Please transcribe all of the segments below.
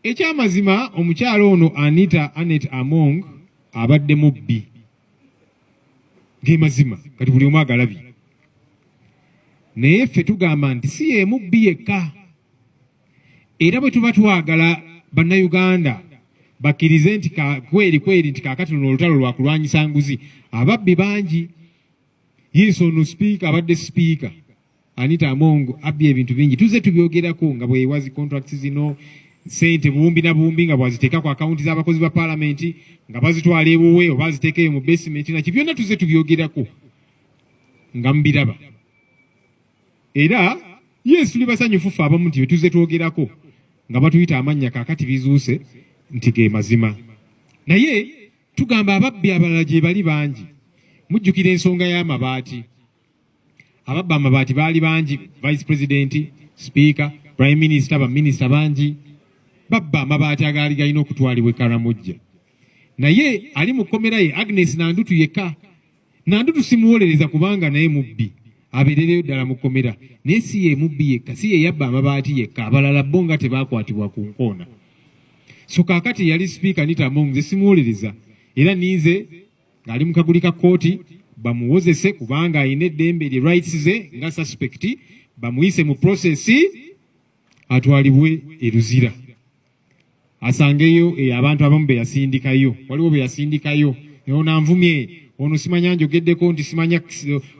Ekyamazima omukyala ono Anita Anet Among abadde mubbi gemazima kati buli omu agalabye naye ffe tugamba nti si yemubbi yekka era bwe tuba twagala bannayuganda bakkirize nti kweri kweri nti kakati luno olutalo lwakulwanyisa nguzi ababbi bangi yiiso ono sipiika abadde sipiika Anita Among abbye ebintu bingi tuzze tubyogerako nga bwewazi contracts zino sente buwumbi na buwumbi nga bwaziteeka ku akawunti z'abakozi ba palamenti nga bazitwala ewuwe oba aziteeka eyo mu basementi naki byonna tuzze tubyogerako nga mubiraba era yes tuli basanyufu ffe abamu nti byetuzze twogerako nga batuyita amannya kakati bizuuse nti ge mazima naye tugamba ababbi abalala gye bali bangi mujjukira ensonga y'amabaati ababba amabaati baali bangi vice president sipiika prime minister baminisita bangi babba amabaati agaali galina okutwalibwa ekaramujja naye ali mu kkomera ye agnes nandutu yekka nandutu simuwolereza kubanga naye mubbi abeerereyo ddala mu kkomera naye si ye mubbi yekka si ye yabba amabaati yekka abalala bo nga tebaakwatibwa ku nkoona so kaakati yali sipiika nita mong ze simuwolereza era ninze ng'ali mu kaguli ka kkooti bamuwozese kubanga alina eddembe lye rights ze nga suspect bamuyise mu process atwalibwe e Luzira asangeyo e, abantu abamu be yasindikayo waliwo be yasindikayo naye onanvumye ono simanya njogeddeko nti simanya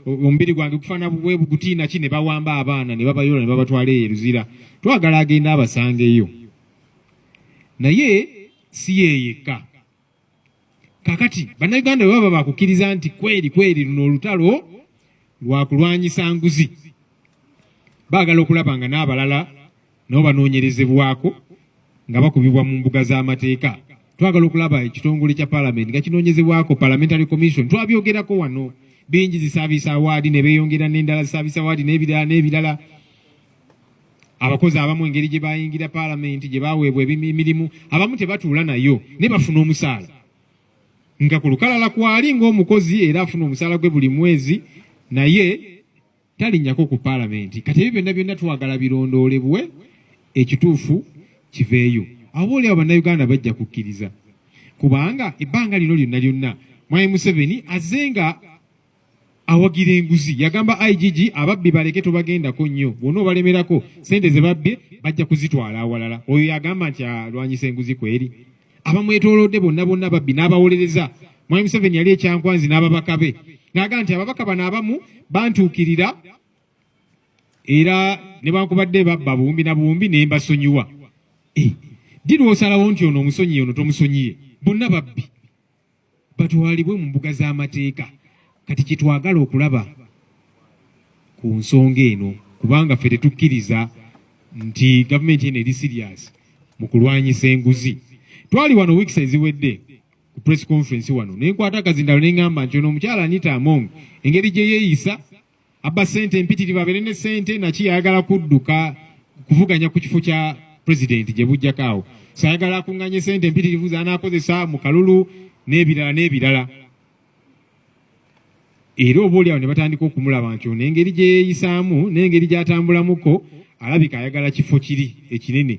omubiri gwange gufaana bwe bugutiina ki ne bawamba abaana ne babayola ne babatwala eyo e Luzira twagala agenda abasangeyo naye si yeyekka Kakati bannayuganda bwe baba bakukkiriza nti kweri kweri luno olutalo lwa kulwanyisa nguzi, baagala okulaba nga n'abalala nabo banoonyerezebwako nga bakubibwa mu mbuga z'amateeka. Twagala okulaba ekitongole kya palamenti nga kinoonyezebwako, parliamentary commission. Twabyogerako wano bingi, zisaabisa awaadi ne beeyongera n'endala, zisaabisa awaadi n'ebirala n'ebirala. abakozi abamu engeri gye bayingira palamenti gye baweebwa emirimu abamu tebatuula nayo naye bafuna omusaala nga ku lukalala kwali ng'omukozi era afuna omusaala gwe buli mwezi naye talinnyako ku palamenti kati ebyo byonna byonna twagala birondoolebwe ekituufu kiveeyo aba oli abo bannayuganda bajja kukkiriza kubanga ebbanga lino lyonna lyonna mwami museveni azze nga awagira enguzi yagamba igg ababbi baleke tobagendako nnyo bwona obalemerako sente zebabbye bajja kuzitwala awalala oyo yagamba nti alwanyisa enguzi kweri abamwetolodde bonna bonna babbi n'abawolereza mwami museveni yali ekyankwanzi n'ababaka be naga nti ababaka bano abamu bantuukirira era nebankubadde babba buwumbi na buwumbi nembasonyiwa eh, ddi lwosalawo nti ono omusonyiye ono tomusonyiye bonna babbi batwalibwe mu mbuga z'amateeka kati kyetwagala okulaba ku nsonga eno kubanga ffe tetukkiriza nti gavumenti eno eri sirias mu kulwanyisa enguzi twali wano weeks eziwedde ku press conference wano nenkwata akazindalo nengamba nti ono omukyala anita among engeri gye yeeyisa abba sente empitirivu abeere ne sente naki yayagala kudduka kuvuganya ku kifo kya pulezidenti gye bujjako awo so ayagala akunganye sente empitirivu zanaakozesa mu kalulu n'ebirala n'ebirala era oba oli awo ne batandika okumulaba nti ono engeri gye yeeyisaamu n'engeri gy'atambulamuko alabika ayagala kifo kiri ekinene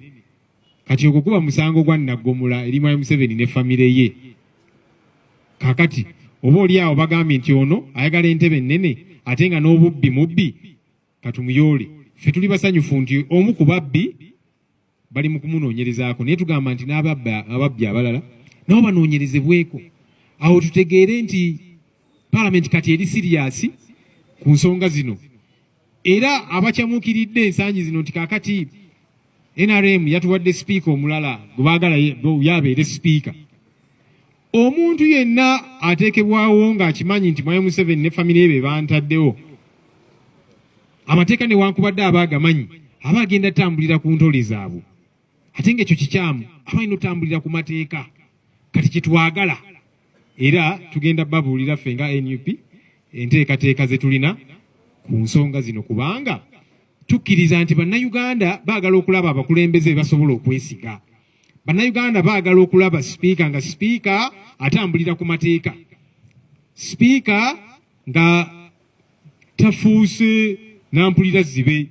kati ogwo guba musango gwa naggomola eri mwami museveni ne famire ye kakati oba oli awo bagambye nti ono ayagala entebe ennene ate nga n'obubbi mubbi katumuyoole ffe tuli basanyufu nti omu ku babbi bali mu kumunoonyerezaako naye tugamba nti n'ababbi abalala nabo banoonyerezebweko awo tutegeere nti palamenti kati eri siriyasi ku nsonga zino Era abacamuukiridde ensangi zino nti kaakati NRM yatuwadde sipiika omulala gwe baagala yabeere sipiika. Omuntu yenna ateekebwawo ng'akimanyi nti Mwami Museveni ne famire ye be bantaddewo, amateeka newankubadde aba agamanyi aba agenda tambulira ku ntole zaabwe. Ate ng'ekyo kikyamu, aba alina otambulira ku mateeka. Kati kyetwagala era tugenda babuulira ffe nga nup enteekateeka ze tulina ku nsonga zino kubanga tukkiriza nti bannayuganda baagala okulaba abakulembeze basobola okwesiga bannayuganda baagala okulaba sipiika nga sipiika atambulira ku mateeka sipiika nga tafuuse nampulira zibe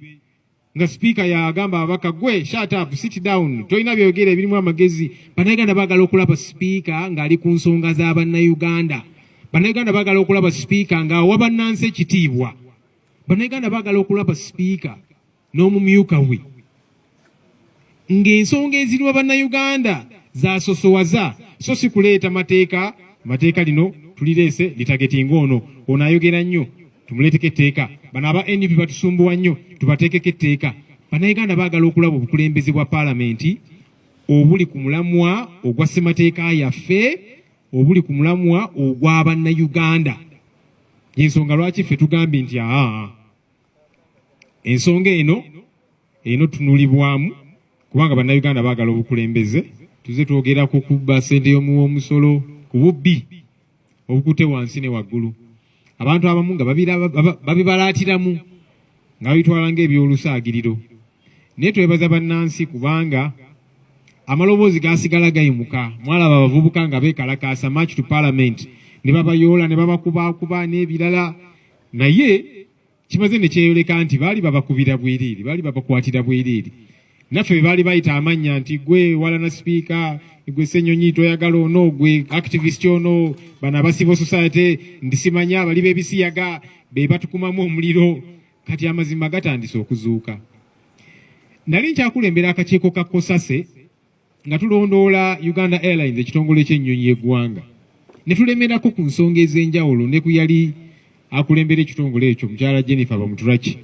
nga sipiika yagamba ababaka gwe shut up sit down tolina byoyogera ebirimu amagezi bannayuganda bagala okulaba sipiika ng'ali ku nsonga za bannayuganda bannayuganda bagala okulaba sipiika ng'awa bannansi ekitiibwa bannayuganda bagala okulaba sipiika n'omumyuka we ng'ensonga eziruma Bannayuganda zasosowaza so si kuleeta mateeka mateeka lino tulireese litageti ng'ono ono ayogera nnyo tumuleeteko etteeka bano aba nup batusumbuwa nnyo tubateekeko etteeka bannayuganda baagala okulaba obukulembeze bwa paalamenti obuli ku mulamwa ogwa ssemateeka yaffe obuli ku mulamwa ogwa bannayuganda yensonga lwaki ffe tugambye nti aa ensonga eno eno tunulibwamu kubanga bannayuganda baagala obukulembeze tuze twogera ku kubba sente y'omuwa omusolo ku bubbi obukute wansi ne waggulu abantu abamu nga babibalaatiramu nga babitwala ng'ebyolusaagiriro naye twebaza bannansi kubanga amaloboozi gasigala gayimuka mwalaba abavubuka nga beekalakaasa march to parliament ne babayoola ne babakubakuba n'ebirala naye kimaze ne kyeyoleka nti baali babakubira bwiriiri baali babakwatira bwiriiri naffe bebaali bayita amannya nti gwe walana sipiika gwe senyonyi toyagala ono gwe activist ono bano abasivo society ndisimanya abali bebisiyaga bebatukumamu omuliro kati amazima gatandise okuzuuka nali nkyakulembera akakiiko ka kosase nga tulondoola uganda airlines ekitongole ky'ennyonyi y'eggwanga ne tulemerako ku nsonga ez'enjawulo ne ku yali akulembera ekitongole ekyo mukyala jennifer bamuturaki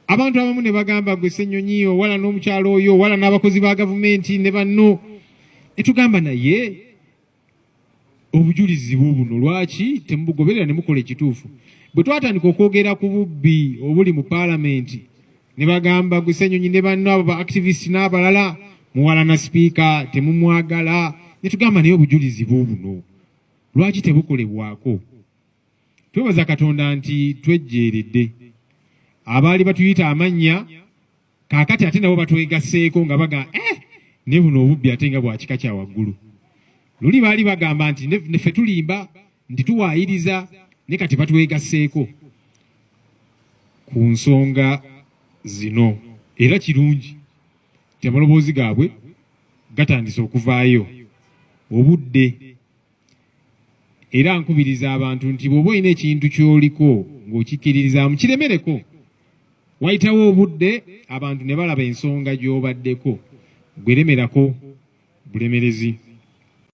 abantu abamu ne bagamba gwe ssennyonyi owala n'omukyalo oyo owala n'abakozi ba gavumenti ne banno etugamba naye obujulizi bwo buno lwaki temubugoberera ne mukola ekituufu bwe twatandika okwogera ku bubbi obuli mu paalamenti ne bagamba gusenyonyi ne banno abo ba activist n'abalala muwalana sipiika temumwagala ne tugamba naye obujulizi bwo buno lwaki tebukolebwako twebaza katonda nti twejjeeredde abaali batuyita amannya Kaakati ate nabo batwegasseeko nga baga eh, ne buno obubbi ate nga bwa kika kya waggulu. Luli baali bagamba nti neffe tulimba nti tuwaayiriza ne kati batwegasseeko ku nsonga zino era kirungi nti amaloboozi gaabwe gatandise okuvaayo obudde era nkubiriza abantu nti bw'oba olina ekintu ky'oliko ng'okikkiririzaamu kiremereko wayitawo obudde abantu ne balaba ensonga gy'obaddeko gweremerako bulemerezi